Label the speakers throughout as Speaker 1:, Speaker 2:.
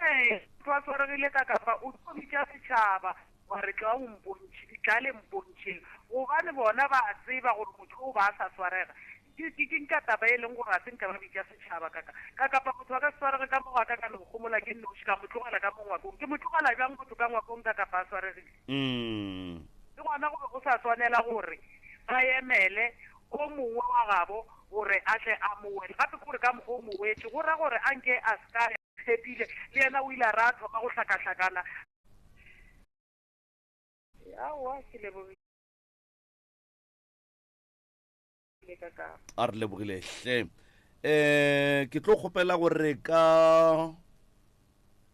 Speaker 1: Ee, motho a swaregile ka kafa o tlo bitša setšhaba, wa re tla o mpontšhe, tla le mpontšheng, gobane bona ba a tseba gore motho o ba a sa swarega. Ke, ke, ke ntša taba e leng gore ga se nka ba bitša setšhaba ka ka, ka kafa motho a ka se swarege ka mo go a ka ka no gomola ke nnoši, ka mo tlogela ka mo ngwakong. Ke mo tlogela bjang motho ka ngwakong ka kafa a swaregile? Le gona go be go sa swanela gore ba emele o mongwe wa gabo gore a tle a mo wetše. Gape ke gore ka mokgwa o mo wetše, go ra gore a nke a se ka ya. Tshepile le yena o ile a re a thoma go hlakahlakana. Aowa, ke lebogile
Speaker 2: ka ka. A re lebogile hle. Um ke tlo kgopela gore ka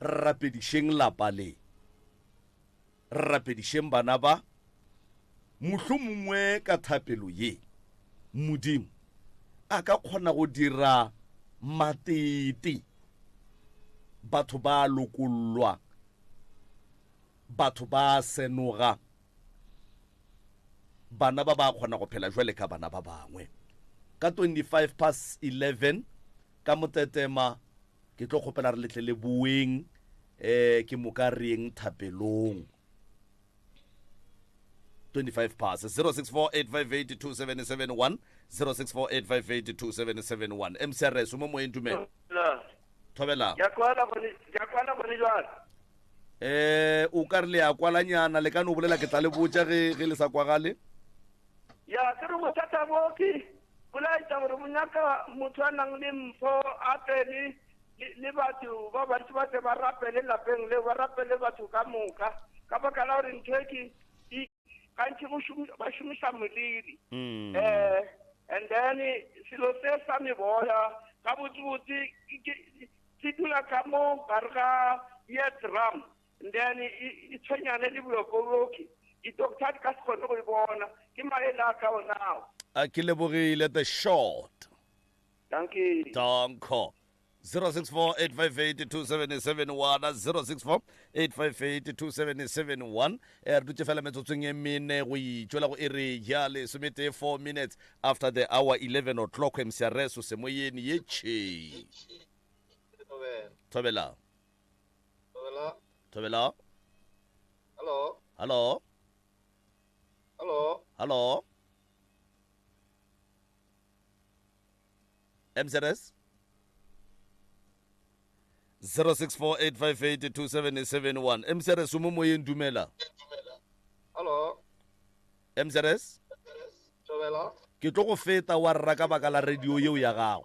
Speaker 2: Re rapedišeng lapa le. Re rapedišeng bana ba. Mohlomongwe ka thapelo ye, Modimo a ka kgona go dira matete. Batho ba a lokollwa. Batho ba a senoga. Bana ba ba kgona go phela bjale ka bana ba bangwe. Ka 25 past 11, Ka motetema, ke tlo kgopela re letle le boeng um ke moka re yeng thapelong. 25 pass 0648582771 0648582771 mcrs o mo moyeng dumela thobelang
Speaker 3: eh
Speaker 2: o ka re le ya kwalanyana le ka no bolela ke tla le botša ge ge le sa kwagale ya
Speaker 3: ke re bothata bo ke Bo laetša gore bo nyaka motho a nang le mpho a tle le, le, le batho ba bantši ba tle ba rapele lapeng leo, ba rapele batho ka moka, ka baka la gore ntho e ke e, gantši go šomi, ba šomiša moliri. Mm. Eh, and then selo se sa meboya, gabotsebotse ke, ke, se dula ka mo gare ga ya drum, Then e, e, e tshwenyane le bolokoloki. Di-doctor ha di ka se kgone go e bona. Ke maele a ka ona ao. A ke lebogile
Speaker 2: the short.
Speaker 3: Dankie. Danko.
Speaker 2: 0648582771 0648582771 eh, re dutse fela metsotsong e mene go itšwela go e re ya lesometee 4 minutes after the hour 11 o'clock mcrs o semoyeng ye tšhee thobelang
Speaker 4: Thobela. Thobela.
Speaker 2: Hello. Hello. Hello. Hello. MZS 0648582771 MZS o mo moyeng dumela. Hello. MZS. Thobela. Ke tlo go feta wa rra ka baka la radio yeo ya gago.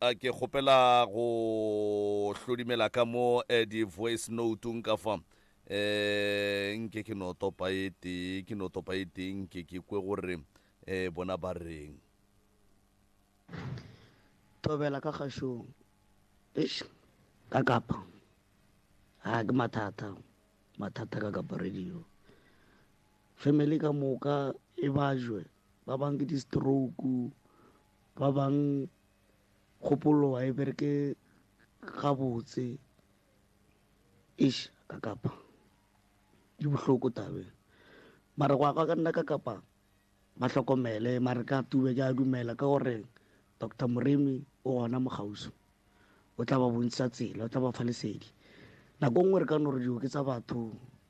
Speaker 2: a ke kgopela go hlodimela ka mo eh, di-voice notung ka fa um nke ke no topa e tee ke no topa e tee nke ke kwe gore um bona ba reng
Speaker 5: tobela ka kgašong eish ka kapa ga ke mathata mathata ka kapa radio family ka moka e bajwe ba bang ke di-stroke, ba bang kgopolo ga e bereke gabotse. Eish ka kapa di bohloko tabeng mara go ya ka nna ka kapa ba hlokomele mara ka tube ke a dumela ka gore doctor moremi o gona mo kgauswi o tla ba bontšha tsela o tla ba fa lesedi nako nngwe re ka no re dioki tsa batho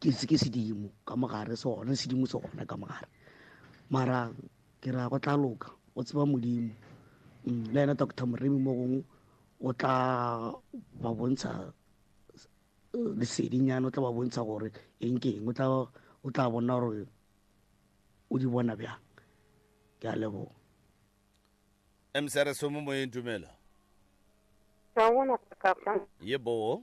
Speaker 5: ke se ke sedimo ka mogare se gona sedimo se gona ka mogare mara ke ra go tla loka o tseba modimo mm, le ena doctor moremi mo gongwe o tla ba bontsha eh, lesedinyana o tla ba bontsha gore eng ke eng o tla bona gore o di bona bjang ke a leboga
Speaker 2: msrs mo moyeng dumela
Speaker 6: ye boo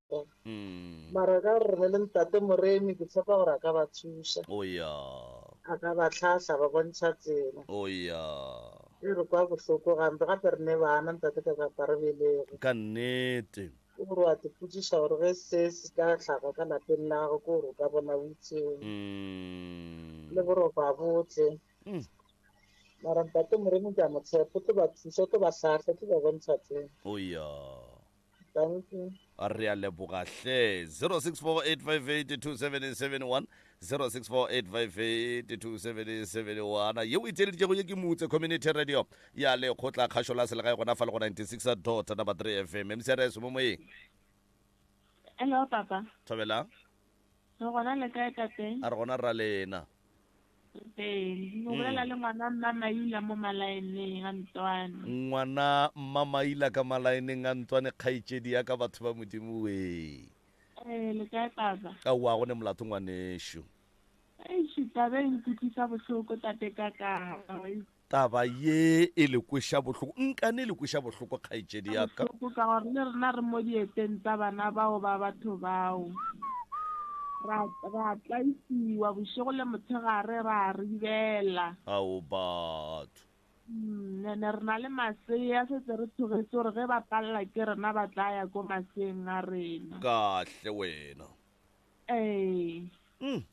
Speaker 6: thata
Speaker 7: mm. mara ka gore ne le ntate moremi ke tshepa gore a ka ba thuša oh yeah
Speaker 2: a ka ba
Speaker 7: tlhahla ba bontšha tsela oh yeah
Speaker 2: e re
Speaker 7: kwa bohloko gampe gape re ne bana ntate ka kapa re belego ka nnete
Speaker 2: o gore wa
Speaker 7: tepotsiša gore ge se se ka tlhaga ka lapeng la gago ke gore o ka bona utseo mm. le gore o ba botle mm. mara ntate moremi ke a motshepo tlo ba thuša tlo ba tlhahla tlo ba bontšha tsela oh yeah Dankie. Re a leboga
Speaker 2: hle. 0648582771 0648582771 yeo e theeleditšego ye ke motse community radio ya lekgotla kgašo la selegae gona fa le go 96 dot number 3 fm mcrs mo moyeng Hello
Speaker 8: papa. thobela Re gona le kae tate? a re gona ra lena Ee, o bolela le ngwana mma Maila mo malaeneng a ntswane. Ngwana mma
Speaker 2: Maila ka malaeneng a ntswane kgaetšedi ya ka batho ba modimo wee. Ee, le kae
Speaker 8: papa? Ka wa go ne molato
Speaker 2: ngwanešu. Eish,
Speaker 8: taba e nkutlwisa bohloko tate ka ka. Taba
Speaker 2: ye e le kweša bohloko. Nkane e le kweša bohloko, kgaetšedi ya ka. Bohloko ka gore le rena
Speaker 8: re mo dieteng tsa bana bao ba batho bao. Ra, ra tlaisiwa bošego le motshegare, ra ribela. Ao
Speaker 2: batho! Mm,
Speaker 8: ene re na le masea, setse re tshogetse gore ge ba palela ke rena ba tla ya ko maseeng a rena. Kahle wena.
Speaker 2: Ee. Mm.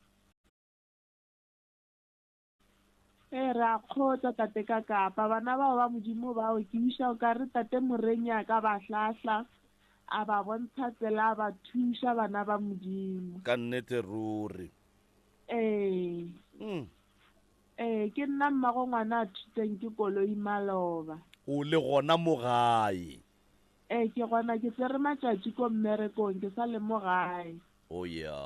Speaker 8: Ee, re a kgotsa, Tate ka Kapa. Bana bao ba Modimo bao, ke wiša o ka re Tate Moreny'a ka ba hlahla, a ba bontsha tsela, a ba thuša, bana ba Modimo. Ka nnete
Speaker 2: ruri. Ee. Mm.
Speaker 8: Ee, ke nna mmago ngwana a thuteng ke Koloi Maloba. O le gona
Speaker 2: mo gae? Ee, ke
Speaker 8: gona. Ke tsere matšatši ko mmerekong, ke sa le mo gae. o oh, ya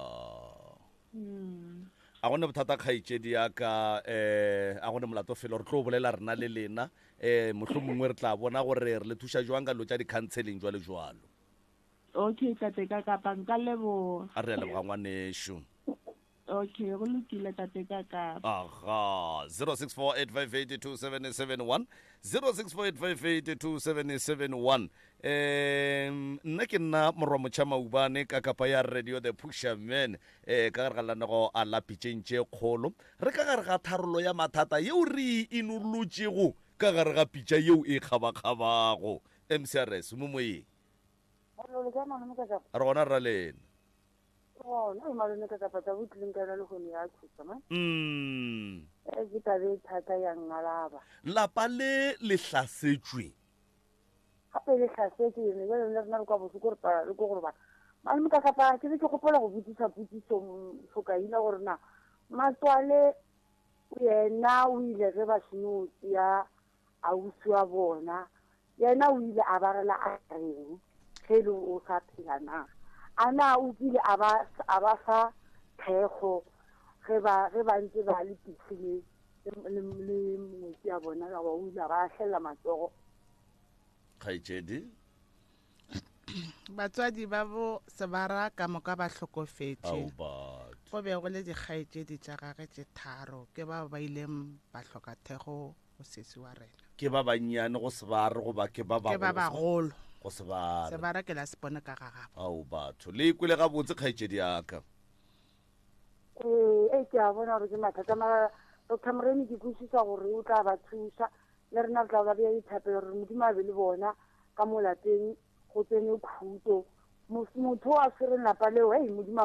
Speaker 2: mm. a gone bothata kgaitsedi ya ka um a gone molato felo re tlo bolela rena le lena um motlho mongwe re tla bona gore re le thuša jwang ka lo tša di-counseling jwalo jwalo okay
Speaker 8: tate ka kapa nka leboga a re ya leboga
Speaker 2: ngwaneso okay
Speaker 8: go lokile tate ka ka aha
Speaker 2: 0648582771 0648582771 um nna ke nna morwa motšha maubane ka kapa ya radio the pusherman um ka gare ga lenanego a lapitšeng tše kgolo re ka gare ga tharolo ya mathata yeo re e inolotšego ka gare ga pitša yeo e kgabakgabago mcrs mo moyeng re gona ra lena
Speaker 6: um lapa le
Speaker 2: le hlasetšwe
Speaker 6: Gape e le tlhase, ke ne bjale le rena re kwa bohloko re palelwa ke go robala. Malome ka kapa ke be ke gopola go botšiša potšišo Mfokaina gore na Matswale yena o ile ge ba seno tšea ausi wa bona, yena o ile a ba rela a reng ge e le gore o sa phela na? A na o kile a ba a ba fa thekgo ge ba ge ba ntše ba le pitshineng le ngwetsi ya bona ka ba o ile ba ahlelela matsogo
Speaker 2: kgaetšedi
Speaker 9: batswadi ba bo sebara ka moka ba hlokofetše go be go le dikgaetšedi tša gage tše tharo ke bao ba ileng ba hloka thego go sesi wa rena ke ba bannyane go
Speaker 2: sebare goba ke ba bagolo go
Speaker 9: sebare
Speaker 2: sebare ke la sepone
Speaker 9: ka ga gabo ao batho le
Speaker 2: kwele gabotse kgaetšedi yaka Ee,
Speaker 6: e ke a bona gore ke mathata mara Doctor Moremi ke kwešiša gore o tla ba thuša le rena re tla ba bea dithapelo gore Modimo a be le bona ka mo lapeng go tsene khuto. Motho a tshwereng lapa leo ei Modimo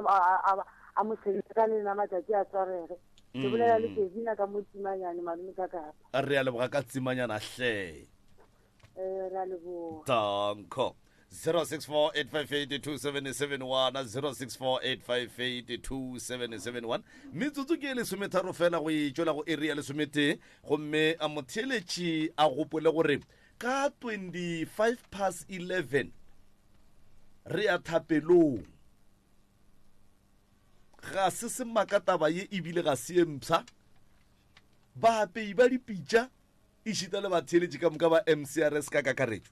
Speaker 6: a mo sebetse ka le ena matšatši a tswarege. Ke bolela le Kevina mm. ka mo Tsimanyane malome ka kapa. Re a leboga ka
Speaker 2: Tsimanyana hle. Eh,
Speaker 6: re a leboga. Danko.
Speaker 2: 0648582771 metsotso ke e lesometharo fela go e tšwela go eri ya lesometee gomme a motheeletši a gopole gore ka 25 pass 11 re ya thapelong ga se semaka taba ye ebile ga se ye mpsha baapei ba dipitša e šita le batheeletši ka moka ba mcrs ka kakaretšo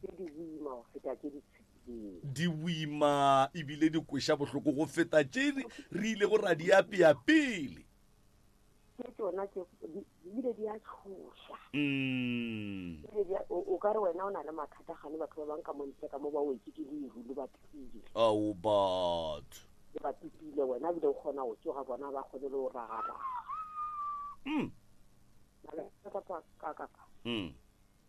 Speaker 6: tše di boima go feta tše di tshepilego. Di
Speaker 2: boima ebile di kweša bohloko go feta tše re ilego ra di apea pele. Tše
Speaker 6: tšona tše di bile di a tšhoša. Mm. Ebile di a- o o ka re wena o na le mathata gane batho ba bang ka mo ntle ka mo ba wetse ke leru le ba pipile Ao
Speaker 2: batho. le ba pipile
Speaker 6: wena ebile o kgona go tsoga bona ba kgone le go ragaraga Mm. Mala- ka- ka- ka- ka- Mm.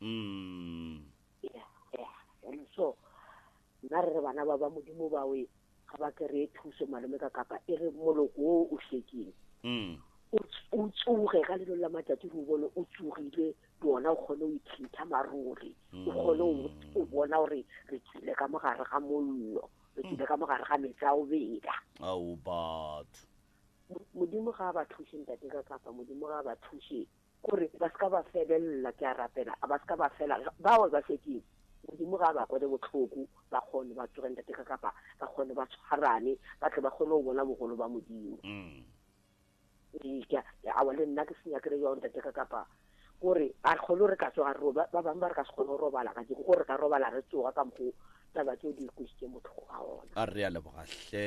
Speaker 6: mm. yeah, yeah. and so nna re re bana ba ba modimo bawe ga ba kry-e thuso malome ka kapa e re moloko o o hlekeng mm. o tsoge ka lelo la matsatsi re o bone o tsogile le ona o kgone o ithintha maruri o mm. kgone o bona gore re tsile ka mogare ga mollo re tsile ka mogare ga metsi a o beda ao
Speaker 2: batho modimo
Speaker 6: ga a ba thushe ntate ka kapa modimo ga a ba thushe Gore ba se ka ba felela, ke a rapela, a ba se ka ba fela. Bao ba šetšego, Modimo ga a ba kwele bohloko, ba kgone ba tsoge ntate ka kapa, ba kgone ba tshwarane, ba tle ba kgone go bona bogolo ba Modimo. Ee, ke a, ke a, le nna ke se nyakile bjao ntate ka kapa, gore a re kgone go re ka tsoga re, ba bangwe ba re ka se kgone go robala ka jeko, gore re ka robala re tsoga ka mokgwa taba tšeo di re kwešitšeng bohloko ka ona. A re a leboga hle.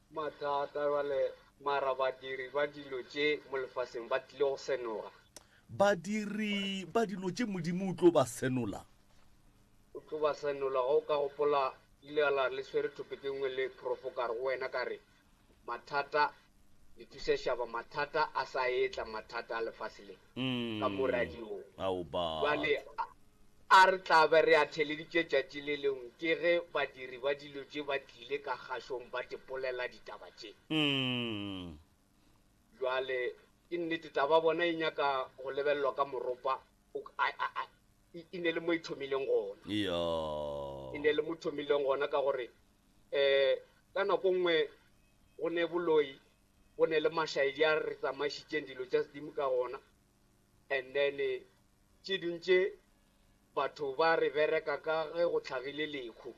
Speaker 3: Mathata bjale, mara badiri ba dilo tše mo lefaseng ba tlile go senoga.
Speaker 2: Badiri ba dilo tše Modimo
Speaker 3: o tlo
Speaker 2: ba senola. O tlo
Speaker 4: ba senola. Ge o ka gopola, le ile la re le swere topic e nngwe le profo ka re go wena, ka re, Mathata, le thuse šaba, mathata a sa etla, mathata a lefase le. mm. ka mo radiong jale a re tla be re a theleditše tšatši le lengwe ke ge badiri ba dilo tše ba tlile ka kgašong ba tepolela ditaba tše mm. jale ke nnete taba bona e nyaka go lebelelwa ka moropa e ne le mo e thomileng gona yeah. e ne le mo thomileng gona ka gore um ka nako nngwe go ne boloi Go ne le mašaedi a re tsamaišitšeng dilo tša sedimo ka gona, and then tše ding tše batho ba re bereka ka ge go tlhagile lehu.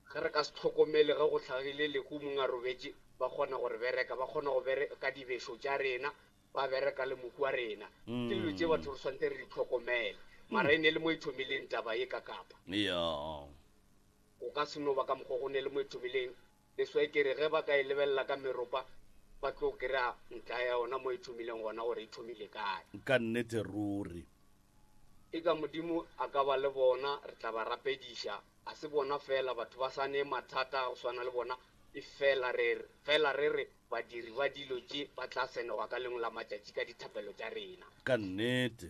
Speaker 4: Ge re ka se hlokomele ge go tlhagile lehu mong a robetše, ba kgona go re bereka, ba kgona go bereka dibešo tša rena, ba bereka le mohu wa rena. Ke dilo tše batho re swanetse re di hlokomele. Mara e ne le mo e thomileng taba ye ka Kapa. Go ka se no ba ka mokgwa o go ne le mo e thomileng. Le swekere ge ba ka e lebelela ka meropa, ba tlo kry-a ntlha ya yona mo e thomileng gona, gore e thomile kae. Ka nnete
Speaker 2: ruri.
Speaker 4: Eka Modimo a ka ba le bona, re tla ba rapediša. Ga se bona feela batho ba sa ne mathata a go swana le bona, efela re fela re re badiri ba dilo tše ba tla senogwa ka lengwe la matšatši ka dithapelo tša rena. Ka nnete.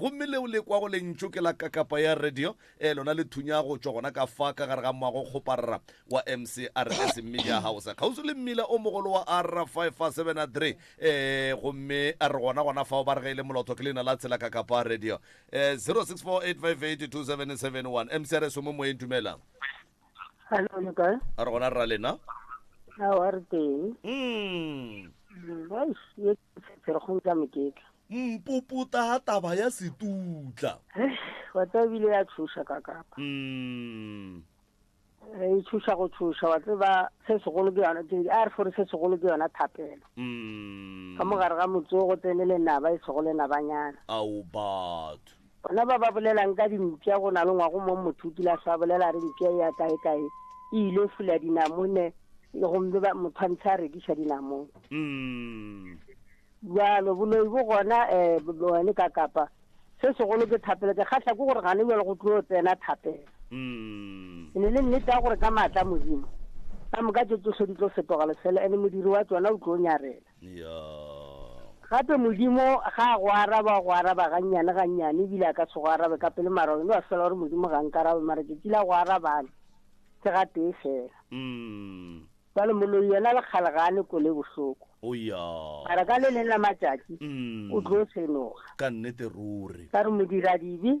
Speaker 2: Gomme le o le kwago lentšu ke la kakapa ya radio, e, lona le thunya go tšwa gona ka fa ka gare ga moago o kgoparra wa MCRS, mmidi a gaosa kgauswi le mmila o mogolo wa R573, e, gomme a re gona gona fao ba re ge e le molotho ke leina la tsela kakapa radio, e, 0648582771. MCRS o mo moyeng, dumelang. Hello,
Speaker 10: le kae? A re gona rra lena?
Speaker 2: A wa re
Speaker 10: teng. Mm. Eish, ye tshetshero go ntla moketla. Mpuputa
Speaker 2: ha taba ya setutla. Wa tseba
Speaker 10: ebile ya tshoša ka kapa. Mm. E tshoša go tshoša wa tseba se segolo ke yona ke a re fore se segolo ke yona thapelo. Mm. Ka mogare ga motse go tsene le naba e sego le nabanyana. Ao batho.
Speaker 2: Bona ba ba
Speaker 10: bolela'ng ka dimpša go na le ngwago mo motho o kile a hlwa a bolela a re mpša e ya kaekae e ile fula dinamone gomme ba motho a ntsha a rekiša dinamone. Umm. Bjalo, boloi bo gona eh, bone ka kapa. Se segolo ke thapelo. Ke kgahla ke gore gane bjalo go tlo tsena thapelo. Umm. E ne le nnete ya gore ka maatla a Modimo, ka moka tše tšohle di tlo fetoga lefelo, ene modiri wa tšona o tlo nyarela. Gape Modimo ga a go araba, o go araba gannyane, gannyane, ebile a ka se go arabe ka pele, mara wena wa swela gore Modimo ga a nkarabe, mara tšatši la go arabana ke gatee fela. Bjale moloi yena le kgale ga a ne kole e bohloko, mara ka le leng la matšatši o tlo senoga. Ka
Speaker 2: re modiradibe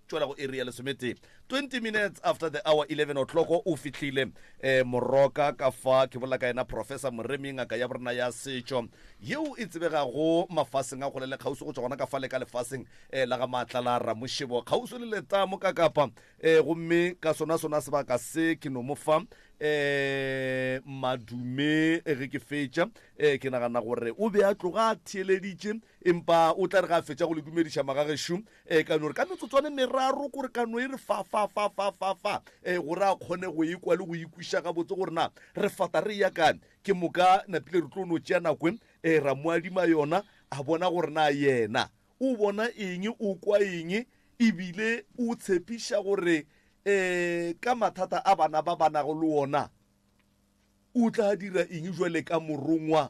Speaker 2: Tšwela go iri ya lesometee, 20 minutes after the hour, 11 o'clock, o fihlile eh, Moroka, ka fa ke bolela ka yena Professor Moremi, ngaka ya borena ya setšo, yeo e tsebegago mafaseng a kgole le kgauswi go tšwa gona ka fale ka lefaseng eh, la ga Maatla la Ramošebo, kgauswi le letamo ka kapa. Eh, gomme ka sona sona sebaka se ke no mo fa eh, madume eh, ge ke fetša eh, ke nagana gore o be a tloga a theeleditše Empa o tla re ge a fetša go le dumediša, Magagešo, e ka no re ka metsotswana e meraro kore ka no e re fa, fa, fa, fa, fa, fa, e, gore a kgone go e kwa le go e kwiša gabotse gore na re fata re eya kae. Ke moka napile re tlo no tšea nako e, e, ra mo adima yona, a bona gore na yena o bona eng, o kwa eng, e bile o tshepiša gore, e, ka mathata a bana ba ba nago le wona, o tla dira eng bjale ka morongwa.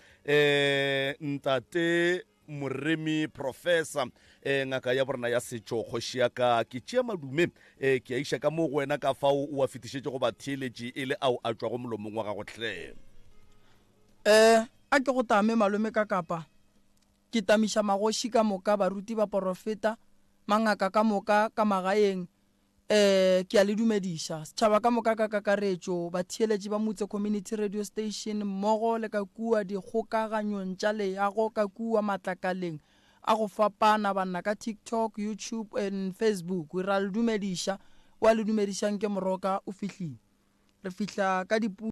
Speaker 2: Eh, ntate moremi professor eh, ngaka ya borena ya setšo kgoši ya ka ke tšea madume eh, ke a iša ka mo go wena ka fao o a fetišetše go batheeletši e le ao a tšwago molomong wa gago hle
Speaker 11: Eh, a ke go tame malome ka kapa ke tamiša magoši ka moka baruti ba porofeta mangaka ka moka ka magaeng Ee, ke a le dumediša, setšhaba ka moka ka kakaretšo, batheeletši ba motse Community Radio Station mmogo le ka kua dikgokaganyong tša leago ka kua matlakaleng a go fapana, banna ka TikTok, YouTube and Facebook. Re a le dumediša. O a le dumedišang ke moroka o fihlile. Re fihla ka dipuku.